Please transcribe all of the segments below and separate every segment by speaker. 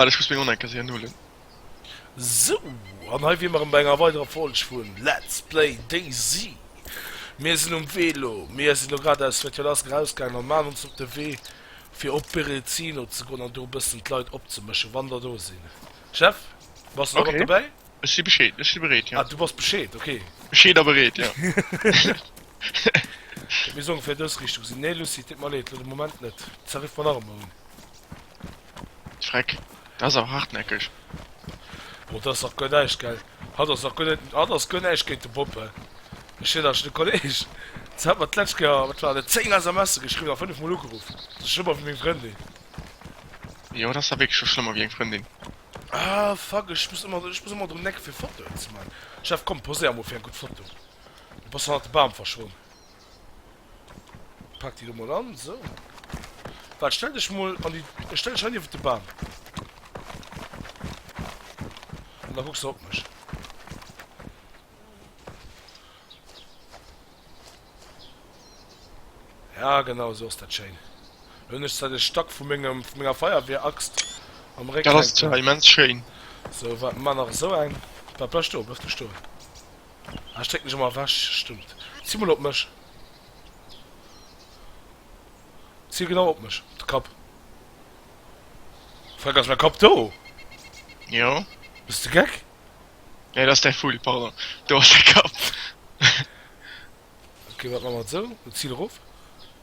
Speaker 1: Well ech muss meng Onenkel hien huelen.
Speaker 2: Sou, an hei wier mer rem bei enger weiderer Folg vun Let's Play DayZ. Mir sinn um Wee elo, mir sinn elo grad aus Virtual Ask erausgaangen an maan ons op de Wee fir op Berezino ze goen an do e bëssen d'Leit opzemëschen, wann der do sinn. Jeff, bass du och mat dobäi? Ech si
Speaker 1: bescheet,
Speaker 2: ech si
Speaker 1: bereet, jo. Ah, du bass bescheet, ok.
Speaker 2: Bescheet a bereet,
Speaker 1: jo.
Speaker 2: Mir soen ongeféier dës Richtung sinn. Nee Lucie, et deet mer leed, elo de Moment net. Zerriff mer nach emol un.
Speaker 1: Schreck. Dat ass awer hartnäckeg. Bon,
Speaker 2: dat ass dach guer näischt, gell? Hatt ass dach guer net, hatt ass guer näischt géint de Bob. Ech sinn dach net de Kolleg. Se hat mer d'lescht Kéier, wat waren et, 10 SMS'e geschriwwen a 5 Mol ugeruff. Dat ass schlëmmer wéi meng Frëndin.
Speaker 1: Jo, dat ass da wierklech scho schlëmmer wéi eng Frëndin. Ah,
Speaker 2: fuck, ech muss ëmmer, ech muss ëmmer drun denken, fir Fotoen ze man. Chef, komm, poséier mol fir eng gutt Foto. Du bass hannert dem Bam verschwonn. Pack déi do mol an, esou. Waart, stell dech mol an déi, ech stell dech hei niewent de Bam. An da kucks de op mech. Ja, genau esou ass dat schéin. Lo hunn ech zwar de Stack vu mengem, vu menger Feierwehr-Axt am Réck Dat ass hänken. zwar immens
Speaker 1: schéin. Esou, waart, mir man
Speaker 2: nach esou eng. Waart, bleif stoen, bleif do stoen. Ech drécken dech emmer ewech, stëmmt. Zi mol op mech. Zie genau op mech, op de Kapp. Freck, ass mäi Kapp do? Jo.
Speaker 1: Bist de geck?
Speaker 2: Nee, dat ass däi
Speaker 1: Vull, pardon. Do ass däi Kapp.
Speaker 2: Ok, wat maache mer et esou, mat Zil erof.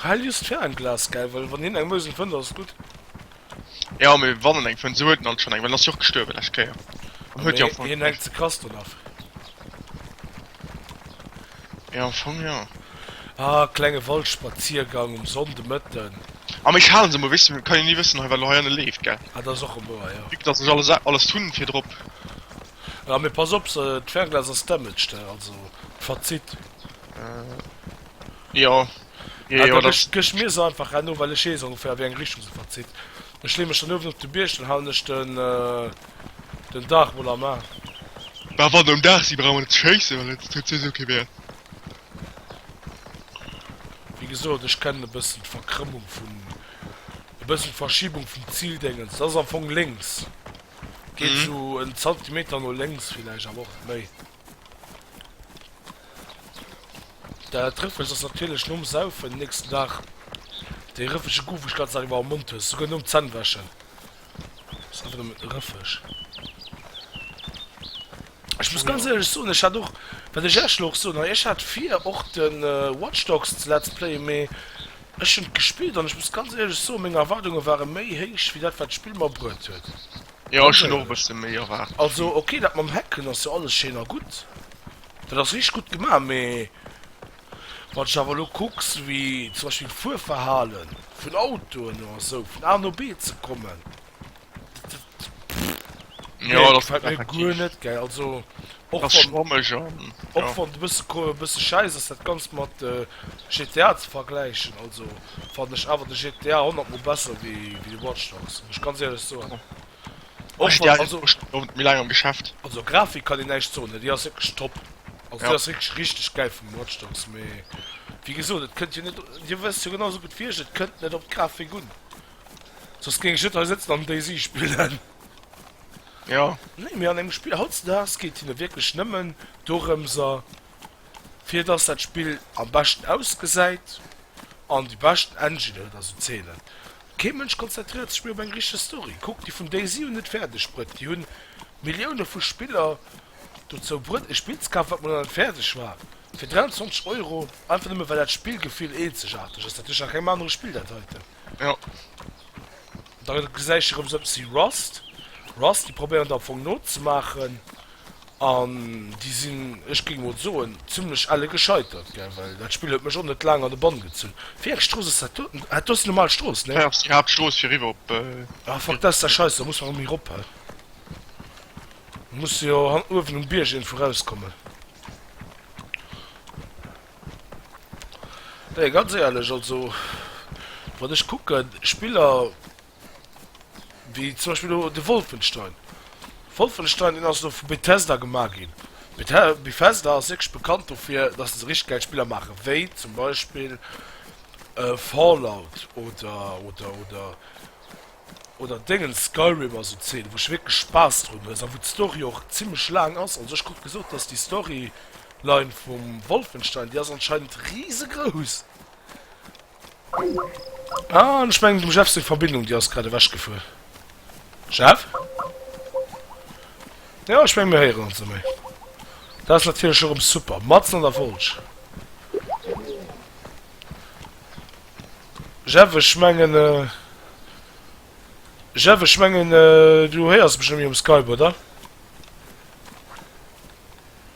Speaker 2: Hal just fir eng Glas gell, well wann hien eng Meusel fënnt ass et gutt. Jo
Speaker 1: mee wann en eng fënnt, esou huet en alt schonn eng, well en ass jo och gestuerwe lescht Kéier an huet jo am Fong. Hien hänkt ze krass dran
Speaker 2: af.
Speaker 1: Jo am Fong jo. Ah klenge
Speaker 2: Waldspaziergang um Sonndemëtten. Ah mee ech halen
Speaker 1: se mol, weess de, kann jo ni wëssen hei wat elo heihanne leeft gell. Ah dat ass och e Boer jo.
Speaker 2: Vu datt ech alles
Speaker 1: alles
Speaker 2: hunn
Speaker 1: fir drop. Ah
Speaker 2: mee pass op, d'Fernglas ass damaged also verzitt.
Speaker 1: Jo. Jo, jo, dat. Ech riichte mir se einfach herno,
Speaker 2: well ech weess ongeféier, a wéi eng Richtung se verzitt. Ech leeë mech dann uewen op de Bierg, dann halen ech den, den Daach mol am A. Mä wann der um
Speaker 1: Daach si brauch mer net ze schéissen, well et huet souwisou kee Wäert.
Speaker 2: Wéi gesot, ech kennen e bëssen d'Verkrëmmung vun, e bëssen d'Verschiebung vum Zildéngens. Dat ass am Fong lénks. Geet esou en Zentimeter no lénks villäicht, awer och net méi. Dat Rëffegt ass natierlech nom Saufen den nächsten Dag dee rëffege Goût, wou ech ganz Dag iwwer am Mond hues, souguer nom Zännwäschen ass einfach nëmmen rëffeg. Ech muss ganz ehrlech soen, ech hat och, wat ech iech lo och soen, ech hat vir och de Watch Dogs ze Let's Playen, mee ech hunn et gespillt an ech muss ganz ehrlech soen, meng Erwaardunge ware méi héich wéi dat wat d'Spill mer bruet huet. Jo ech hunn och e
Speaker 1: bësse méi erwaart. Also ok dat mam
Speaker 2: Hacken ass jo alles schéin a gutt, dat ass richteg gutt gemaach, mee wann ech awer elo kucks wéi zum Beispill d'Fuerverhale vun Autoen oder esou vun A no B ze kommen, dat
Speaker 1: gefält mir guer net gell.
Speaker 2: Also och
Speaker 1: wann e bësse
Speaker 2: scheiss ass dat ganzt mat GTA ze vergläichen also. Fannen ech awer de GTA 100 mol besser wéi de Watch Dogs, muss ech ganz ehrlech soen. Ech war also
Speaker 1: net méi
Speaker 2: laang am Geschäft.
Speaker 1: Also Grafik kann een
Speaker 2: näischt soen, déi ass wierklech top, also déi ass wierklech richteg
Speaker 1: gäil
Speaker 2: vum Watch Dogs, mee wéi gesot et kënnt jo net, Dir wësst jo genau esou gutt wéi ech, et kënnt net op d'Grafik un, soss géing ech net hei sëtzen an DayZ spillen.
Speaker 1: Jo. Nee, mee an engem
Speaker 2: Spill hautzedaags geet hinne wierklech nëmmen dorëms a fir dass dat Spill am beschten ausgesäit an déi beschten Engine huet, also Zeenen. Kee Mënsch konzentréiert sech méi op eng richteg Story. Kuck déi vun DayZ un, net fäerdeg bruet. Déi hunn Millioune vu Spiller dozou bruet e Spill ze kafen, wat mol an net fäerdeg war, fir 23 Euro, einfach nëmme well dat Spillgefill eenzegaarteg ass. Dat huet ech nach kengem anere Spill, dat heiten. Da gesäich ech erëm esou eppes wéi Rust. Rust, déi probéieren da am Fong nozemaachen An déi sinn, ech géing mol soen, zimlech elle gescheitert, gell, well dat Spill huet mech och net laang an de Bann gezunn. Wéi eng Strooss ass dat do? Ah, do ass normal Strooss, nee? Dat ass déi Haaptstrooss fir
Speaker 1: eriwwer op de. Ah, fuck, dat ass
Speaker 2: da scheiss, da muss mer erëm hierop, he? Mir musse jo han uewen um Bierg iergendwou rauskommen. Nee, ganz éierlech, also, wann ech kucken, Spiller. Wéi zum Beispill elo de Wolfenstein. Wolfenstein, deen ass elo vu Bethesda gemaach ginn. Bethesda ass wierklech bekannt dofir, dass se richteg gäil Spiller maachen, wéi zum Beispill Fallout oder, oder, oder, oder Déngens, Skyrim a sou Zeen, wou ech wierklech Spaass drun hues a wou d'Story och zimmlech laang ass. Also ech krut gesot, dass déi Storyline vum Wolfenstein, déi ass anscheinend risegrouss. Ah, ech mengen dem Jeff seng Verbindung déi ass grad ewechgefuer. Jeff? Ja, ech meng mir héieren ons emol. Dat ass natierlech erëm super, matzen an der Woltsch. Jeff, ech mengen, Jeff, ech mengen du héiers mech net méi um Skype, oder?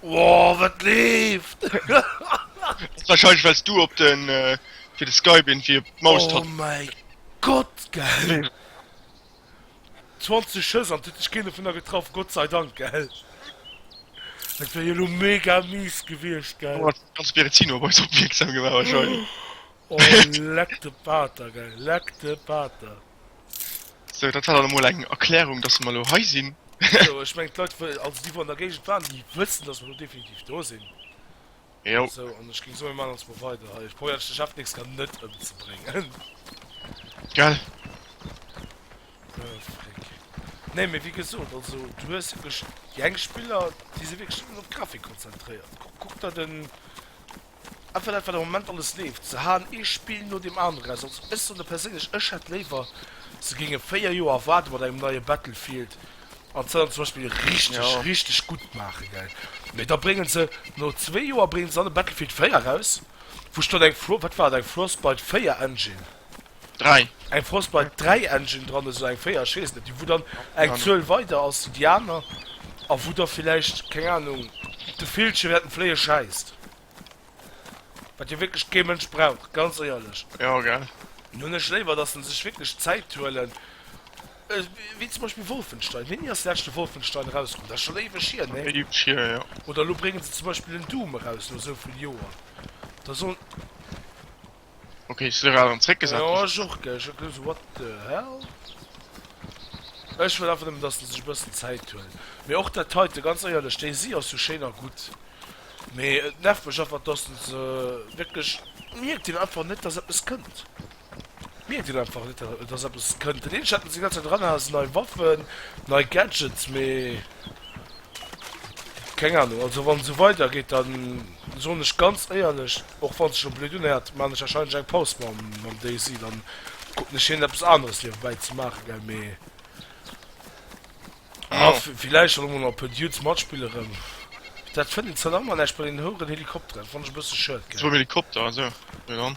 Speaker 2: Woohh wat leeft!
Speaker 1: Wahrscheinlech wells du op den fir de Skype in fir Maus oh mei
Speaker 2: Gott gell! 20 Schëss an huet dech keen dovunner getraff Gott sei Dank gell! Dat wär jo lo mega mies gewierscht gell! Huet de ganze Berezino
Speaker 1: op eis opmierksam gemaach wahrscheinlech. Oh
Speaker 2: leck de Pater gell! Leck de Pater!
Speaker 1: So, dat war dann emol eng Erklärung, dass mer elo hei sinn. Also, ech mengen, d'Leit,
Speaker 2: wou- also déi, wou an der Géigend waren, déi wëssen, dass mer elo definitiv do sinn. Jo.
Speaker 1: So, an ech géing soen,
Speaker 2: mir maachen ons mol weider hei. Ech probéieren, dass de Jeff nix kann net ëmzebréngen.
Speaker 1: Gell? Äh,
Speaker 2: Fréck. Nee, mee wéi gesot, also, du hues wierklech déi eng Spiller, déi si wierklech nëmmen op d'Grafik konzentréiert. Kuck, kuck der den. A fir dat wat am Moment alles leeft, se haen ee Spill no deem anere raus. Also ech soen der perséinlech, ech hätt léiwer se géinge 4 Joer waarde mat engem neie Battlefield an d'Saison zum Beispill richteg richteg gutt maache gell. Mee da bréngen se no zwee Joer bréngen se dann e Battlefield 4 raus wou ech dann denken, Flo wat war dat eng Frostbite 4 Engine? 3.
Speaker 1: Eng Frostbite
Speaker 2: 3 Engine dran esou eng 4 ech wees net déi wou dann eng Zuel weider ass wéi déi aner a wou da villäicht keng Ahnung de Villche während dem Fléie schäisst wat jo wierklech kee Mënsch brauch ganz éierlech. Jo gell. Dann
Speaker 1: hunn ech léiwer
Speaker 2: dass se sech wierklech Zäit huelen wéi zum Beispill Wolfenstein. Wéini ass de leschte Wolfenstein erauskomm? Dat ass schon éiweg hier ne? Éiweg hier jo. Oder
Speaker 1: elo bréngen se
Speaker 2: zum Beispill en Doom eraus no esou vill Joer da sollen.
Speaker 1: Ok, ech si grad an zréck gesat. Jo ech och gell, ech hat
Speaker 2: geduecht what the hell. Ech wëll einfach nëmmen dass de sech e bëssen Zäit huelen. Mee och dat heite ganz éierlech, déi si ass jo schéin a gutt, mee et nervt mech einfach dass de se wierklech, mierkt een einfach net dass eppes kënnt. Mierkt een einfach net dass eppes kënnt. Dat eenzegt wat se di ganze Zäit eran hae si nei Waffen, nei Gadgets, mee. Keng Ahnung, also wann esou weider geet dann soen ech ganz éierlech, och wann sech elo blöd unhéiert, maan ech wahrscheinlech eng Paus mam Daisy, dann kucken ech hiren eppes aneres niewebäi ze maachen gell, mee ah villäicht elo mol nach e puer Duels matspillen rem, daat fënnt een zwar nach emmer näischt bei den houeren Helikopteren, fannen ech e bëssen schued gell. Helikopter, esou,
Speaker 1: jo dann.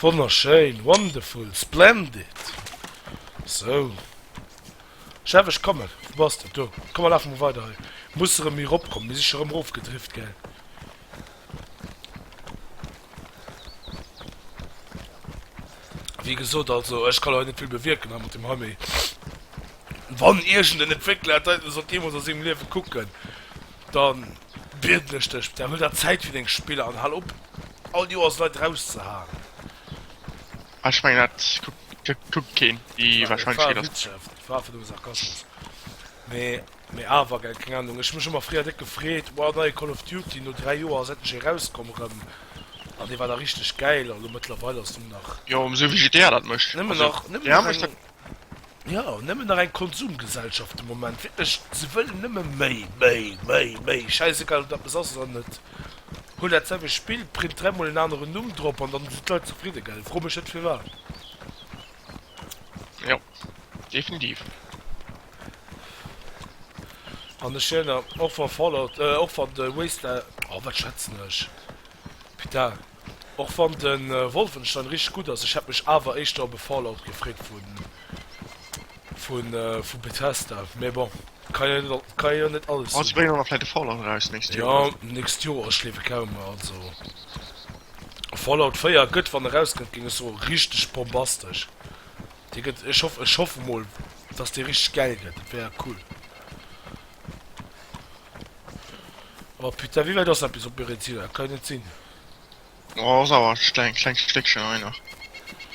Speaker 2: Wonnerschéin, wonderful, splendid. Sou, Chef, ech kommen. Wou bass de? Do. Komm, mer lafe mol weider hei. Muss erëm méi erop kommen. Mir si scho erëm erofgedrift, gell? Wéi gesot, also, ech kann hei net vill bewierken, hei mat deem hei, mee wann iergenden Entwéckler dat hei net sollt eemol a sengem Liewe kucken, Dann bieden ech dech, Pierre, huel der Zäit fir deng Spiller an hal op, all Joers Leit rauszehalen.
Speaker 1: Ah, ech mengen, dat kuckt keen. Déi Warscheinlechkeet ass. Dat war e Witz, Jeff. Dat war einfach nëmme Sarkasmus.
Speaker 2: Mee, mee awer, gell, keng Ahnung. Ech hu mech ëmmer fréier déck gefreet, Wow, neie Call of Duty, no dräi Joer ass endlech ee rauskomm erëm. An dee war nach richteg gäil. A lo mëttlerweil
Speaker 1: ass nëmme
Speaker 2: nach. Jo, esou wéi
Speaker 1: GTA dat
Speaker 2: mécht.
Speaker 1: Nëmme
Speaker 2: nach, nëmme
Speaker 1: nach
Speaker 2: eng. Jo, nëmmen nach eng Konsumgesellschaft de Moment, wierklech, se wëll nëmme méi, méi, méi, méi, schäisegal ob dat besass ass oder net. Huel dat selwecht Spill, print dräi mol en aneren Numm drop an dann sinn d'Leit zefridde, gell? Fro mech net firwat.
Speaker 1: Jo, definitiv.
Speaker 2: An ech héieren, och wa Fallout, och wann de Wasteland, oh wat schwätzen ech? Putain. Och wann de Wolfenstein richteg gutt ass, ech hätt mech awer éischter op e Fallout gefreet vu Bethesda, mee bon, kann jo net alles sinn.
Speaker 1: Jo, nächst Joer,
Speaker 2: ech
Speaker 1: gleewe
Speaker 2: kaum mer, also Fallout 4 gëtt, wann e rauskënnt, géing ech soen, richteg bombastesch, dee gëtt, ech hoffe mol, dass dee richteg gäil gëtt, dat wär cool. Oh putain, wéi wäit ass eppes op Berezil? Dat kann jo net sinn. Oh,
Speaker 1: ass awer kleng, klengt Stéckchen hei nach.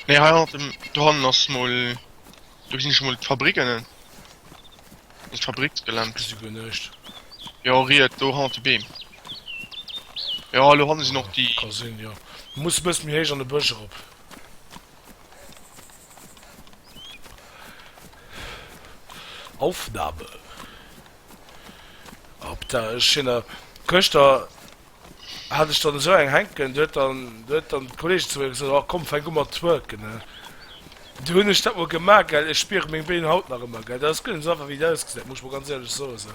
Speaker 1: Nee, hei hannert dem, do hannen ass mol, do gesinn ech mol d'Fabriken. Dat Fabriksgelänn. Gesi guer näischt.
Speaker 2: Ja, riet,
Speaker 1: do hannert de Beem. Ja, lo hanne sinn och déi. Ka sinn, jo.
Speaker 2: Muss e bësse méi héich an de Bësch erop. Aufnahme op der Schinner. Gëschter hat ech dann esou eng hänken, du huet dann du huet dann d'Kolleegen zu mir gesot, oh komm fänk u mat twerken ne. Du hunn ech dat mol gemaach gell, ech spiere meng Been haut nach ëmmer gell, dat ass guer net esou einfach wéi et ausgesäit, muss ech mol ganz éierlech soe se.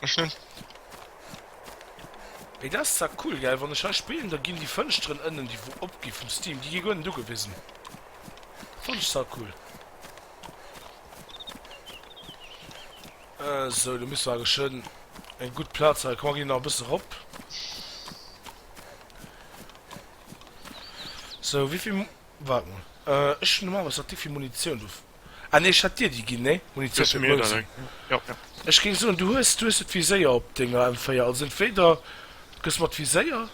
Speaker 1: Ech nun.
Speaker 2: Ey dat ass zwar cool gell, wann ech hei spillen da ginn déi Fënschteren ënnen déi wou opgi vum Steam déi gi guer net ugewisen. Fonnt ech zwar cool. Esou do misst war geschënn eng gutt Platz hei komm ginn nach e bësse rop. Sou wéivill warten ech hun normal was dat wéivill Munitioun du Ah nee, ech hat dir déi ginn, ne? Munition fir d'Mauser. Ech
Speaker 1: géing soen, du hues
Speaker 2: du hues jo d'Viséier op denger M4. Also entweder du gëss mer d'Viséier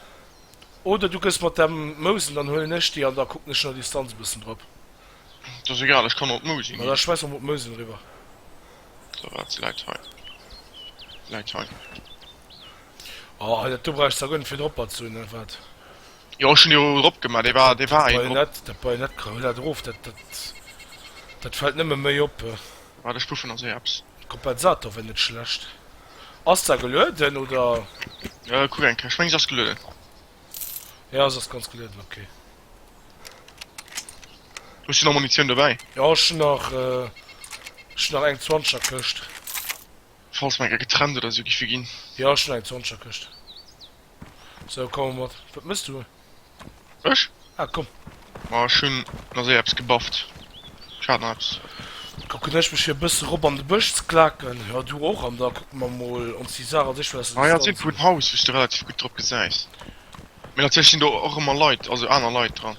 Speaker 2: oder du gëss mer d'M Mousen, dann huelen ech déi an da kucken ech un der Distanz e bëssen drop. Dat ass
Speaker 1: egal, ech kann och d'Mousen ginn. Ma da schmeiss mer mol d'Mousen
Speaker 2: eriwwer. Sou,
Speaker 1: wat, se läit hei. Läit
Speaker 2: hei. Oh, dat do brauchs de da guer net fir dropper ze hunn, oder wat? Jo ech hun jo
Speaker 1: drop gemaat, dee war dee war een drop. Bajonett dat Bajonett kra huet dat
Speaker 2: erof dat dat dat fällt nëmme méi op. Waart ech puffen ass
Speaker 1: eppes. Kompensator wär net
Speaker 2: schlecht. Ass da gelueden oder? Äh kuck eng
Speaker 1: Kéier, ech mengen se ass gelueden.
Speaker 2: Jo se ass ganz gelueden, ok.
Speaker 1: Hues du nach Munitioun dobäi? Jo ech hun nach
Speaker 2: ech hun nach eng 20 er Këscht. Falls
Speaker 1: mer enker getrennt oder sou giffe ginn. Jo, ech hunn eng zu onscher
Speaker 2: Këscht. Sou, komm emol mat. Wat mëss du? Ech?
Speaker 1: Ah, komm.
Speaker 2: Ma ech hunn
Speaker 1: nach séier eppes gebafft. Ech hat nach eppes. Komm, kënne ech
Speaker 2: mech fir e bësse rop an de Bësch ze klaken? Jo, du och. An da kucke mer mol ons déi Saach an d'Esch, well ech se. Ah jo, d'Info vun haus, wou
Speaker 1: s de relativ gutt drop gesäis. Mee natierlech sinn do och ëmmer Leit, also aner Leit dran.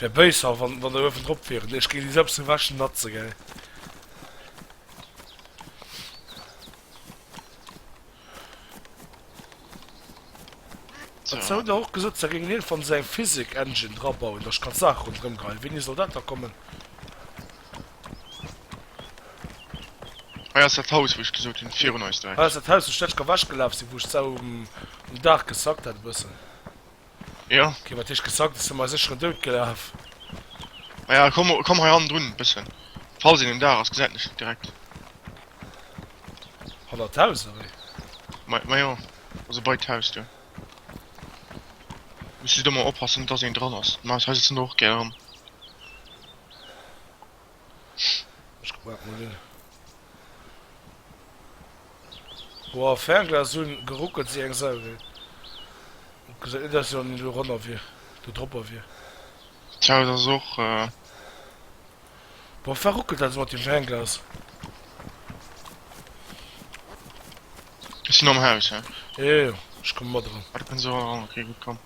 Speaker 2: Wär béisser wann wann der Uefen drop wier. Nee ech géing déi selwescht gewäschen natze gell.
Speaker 1: Wat zou der och gesot se géingen
Speaker 2: iergendwann esou eng Physic Engine dra bauen dass kanns Saache ronderëm geheien. Wéini soll dat da kommen?
Speaker 1: Hei ass dat Haus wou ech gesot hunn virun eis Hei direkt. ass dat Haus wou ech d'lescht Ke
Speaker 2: wechgelaf sinn wou ech d'Sau um um Daach gesackt hat e bëssen. Jo.
Speaker 1: Okay, wat dech gezankt
Speaker 2: hues, sinn mer e sécheren Doud gelaf.
Speaker 1: Maja, komm, komm hei hannendrun e bëssen. Falls een um Daach ass, gesäit en dech net direkt.
Speaker 2: Hannert d'Haus, oder wéi? Ma,
Speaker 1: majo, also bei d'Haus do. Muss just ëmmer oppassen, net dass een dran ass. D'Maus, hei sëtzen der och gär dran.
Speaker 2: Ech kucken dat mol un. Boah, Fernglas un, geruckelt si eng Sau hei. Gesäit net aus wéi wann een do ronner wier, do dropper wier. D'Haut
Speaker 1: ass och.
Speaker 2: Boah wa ruckelt dat esou mat dem Fernglas?
Speaker 1: Ech sinn am Haus he. Jo jo, ech komme
Speaker 2: mat eran. Ah du kënns och eran, ok
Speaker 1: gutt komm.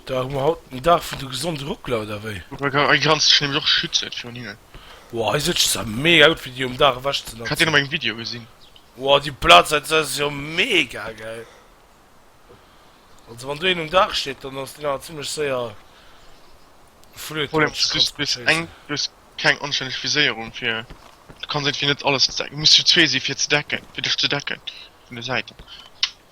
Speaker 2: Da hu mer haut den Dag vun de gesonde Ruckler, oder wéi? Eng ganz schnell
Speaker 1: och schützen virun hinnen. Wow, hei sëtzt se
Speaker 2: mega gutt fir déi um Daach ewech ze notzen. Hat een op engem Video gesinn.
Speaker 1: Wow, déi Plaz
Speaker 2: hei ass jo mega gäil. Also wann do een um Daach steet, dann ass deen awer zimmlech séier flöt. Problem ass just, du
Speaker 1: hues eng, du hues keng anstänneg Viséierung fir, du kanns entweder net alles, du muss zu zwee si fir ze decken, fir dech ze decken vun de Säiten.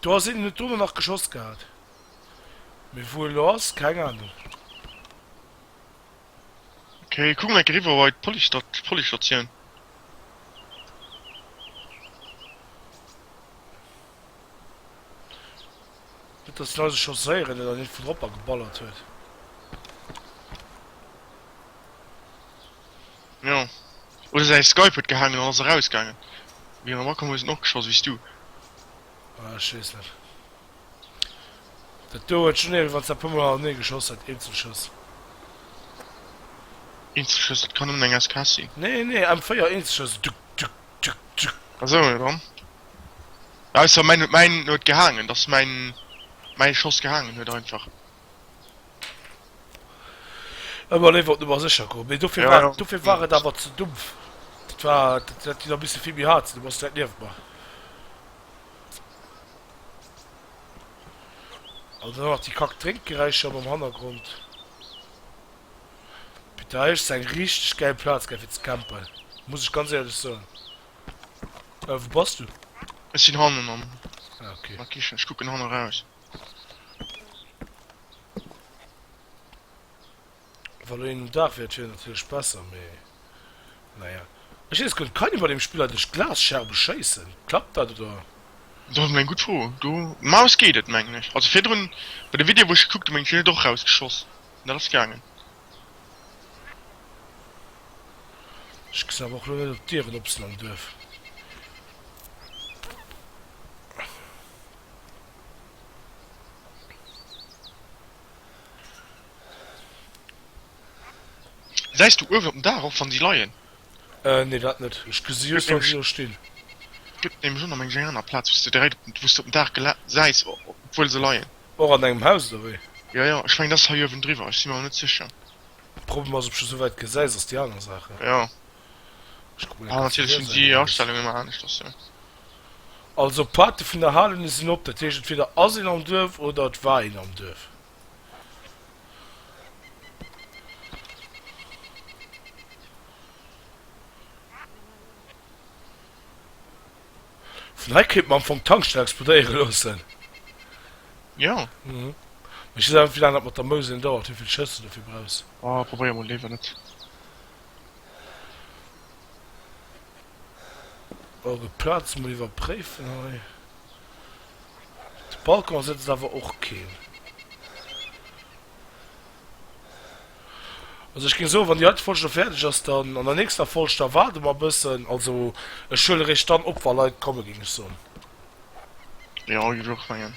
Speaker 2: Do ass een, en huet dono nach geschoss gehat. Mee wou en elo ass, keng Anung.
Speaker 1: Ok, kucken eng Kéier eriwwer bei d'Policestatioun.
Speaker 2: Net dass Leit ech chasséieren, dat an een vun op a geballert huet.
Speaker 1: Jo. Oder säi Skype huet gehaangen an ass erausgaangen. Wéi en erakomm hues en och geschoss wéi s du. Ah
Speaker 2: ech weess net. Dat do huet schon ee wanns dat puer mol hanernee geschoss huet, Eenzelschëss.
Speaker 1: Eenzelschëss, dat kann nëmmen eng SKS sinn. Nee nee M 4
Speaker 2: Eenzelschëss so tuk tuk tuk tuk. Esou jo
Speaker 1: dann. Ausser mäin mäin huet gehaangen, dass mäin mäi Schoss gehaangen huet einfach.
Speaker 2: Ëmmer léiwer op d'Nummer sécher goen. Mee dofir war, ja, dofir war et awer ze dumpf. Dat war, dat hätt Dir nach misse vill méi haart sinn. Du bass direkt nieft mer. Also dann nach déi kack Drénkgeräischer am Hannergrond. Peter, heich ass eng richteg gäil Plaz gell fir ze campen. Muss ech ganz éierlech soen. Äh, wou bass du? Ech sinn hannen
Speaker 1: am, Ah, okay. am Kichen.
Speaker 2: Ech kucken hanne
Speaker 1: raus.
Speaker 2: Wann een um Daach wärt wier et natierlech besser mee naja. Ech wees guer kann een bei dem Spill eigentlech Glasscherbe schéissen? Klappt dat oder? Dat ass meng gutt
Speaker 1: Fro. Do Maus geet et mengen ech. Also virdrun bei de Video wou ech gekuckt hun mengen ech hun et och raus geschoss an dat ass gaangen.
Speaker 2: Ech gesinn awer och lo net op d'Dieren op se lang duerf.
Speaker 1: Gesäis du uewen op den Daach och wann si leien? Äh nee dat
Speaker 2: net, ech gesi just wann si do stinn. Gëtt nämlech
Speaker 1: och nach mengen ech eng aner Plaz wou s de direkt op den wou s de op den Daach gela gesäis obwuel se leien. Och an engem Haus oder
Speaker 2: wéi? Jo jo, ech mengen dat ass hei
Speaker 1: uewen driwwer, ech si mer awer net sécher. Problem ass
Speaker 2: ob s de souwäit gesäis ass déi aner Saach. Jo.
Speaker 1: Also
Speaker 2: d'Paarte vun der Halene sinn op, dat heescht entweder ass een am Duerf oder et war een am Duerf. Vun hei kéint mer am Fong d'Tankstell explodéiere loossen.
Speaker 1: Mee
Speaker 2: ech weess awer net wéi laang dat mat der Mouse en dauert, wéi vill Schëss de dofir brauchs. Bon, gëtt d'Plaz emol iwwerpréifen hei. De Balcon sëtzt awer och keen. Also ech géing soen, wann déi heite Folg elo fäerdeg ass, dann an der nächster Folg, da waarde mer e bëssen. Also ech huele réischt dann op, wa Leit komme géing ech soen.
Speaker 1: Jo, géif ech och mengen.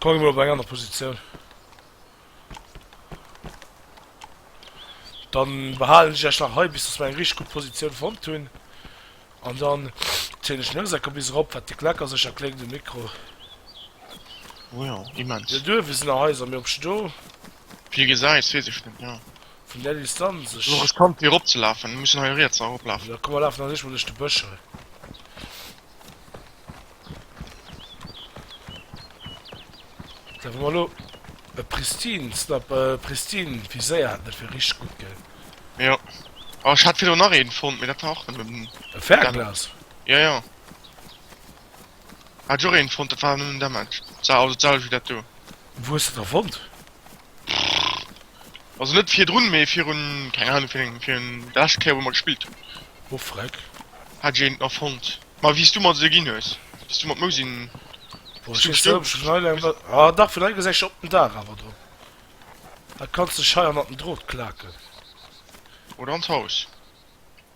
Speaker 1: Kommen
Speaker 2: ech mol op eng aner Positioun. Dann behalen ech ech nach hei bis dass mir eng rich gutt Positioun fonnt hunn. An dann zéien ech den Housecker bis erop, wat de Klecker sécher kléngt um Mikro. Oh jo,
Speaker 1: immens. Jo, duerwe sinn nach Haiser,
Speaker 2: mee ob ech do. Vill gesäis,
Speaker 1: weess ech net, jo. Vun där Distanz,
Speaker 2: ech. Elo riskant fir erop
Speaker 1: ze lafen, mir mussen hei riets nach eroplafen. Da komm mer lafen eréischt mol duerch
Speaker 2: de Bësch hei. Dat war lo e pristine Snap, e pristine Viséier, hat net fir richteg gutt ginn. Jo.
Speaker 1: Oh, ech hat virdu nach een fonnt, mee dat war och nëmmen. E Fernglas?
Speaker 2: Jo, jo.
Speaker 1: Hat ech och een fonnt, dat war nëmmen Damage. War also d'selwecht wéi dat do. Wou hues de dra fonnt? Also net virdrun, mee virun, keng Ahnung, fir eng, fir en, déi lescht Kéier wou mer gespillt hunn. Oh freck.
Speaker 2: Hat ech een nach
Speaker 1: fonnt. Ma wéi s du mer se ginn hues, wéi s du mat Mousin. Boah, ech weess
Speaker 2: selwer scho net méi
Speaker 1: wat. Ah
Speaker 2: dach, vun hei gesäit ech op den Daach awer drop. Da kanns du dech hei ënnert den Drot klaken.
Speaker 1: Oder an d'Haus.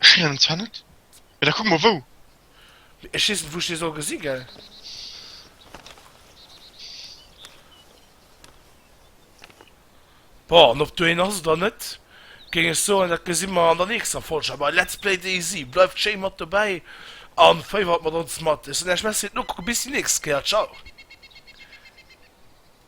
Speaker 2: Ech
Speaker 1: finnen en zwar net. Mee da kuck mol wou. Ech weess
Speaker 2: net wou ech dee soll gesi gell. Boah, an ob do een ass oder net géing ech soen dat gesi mer an der nächster Folg a bei Let's Play DayZ. Bleift schéi mat dobäi a feiwert mat ons mat. Ech soen iech Merci fir d'Nokucke bis déi nächst Kéier. Ciao.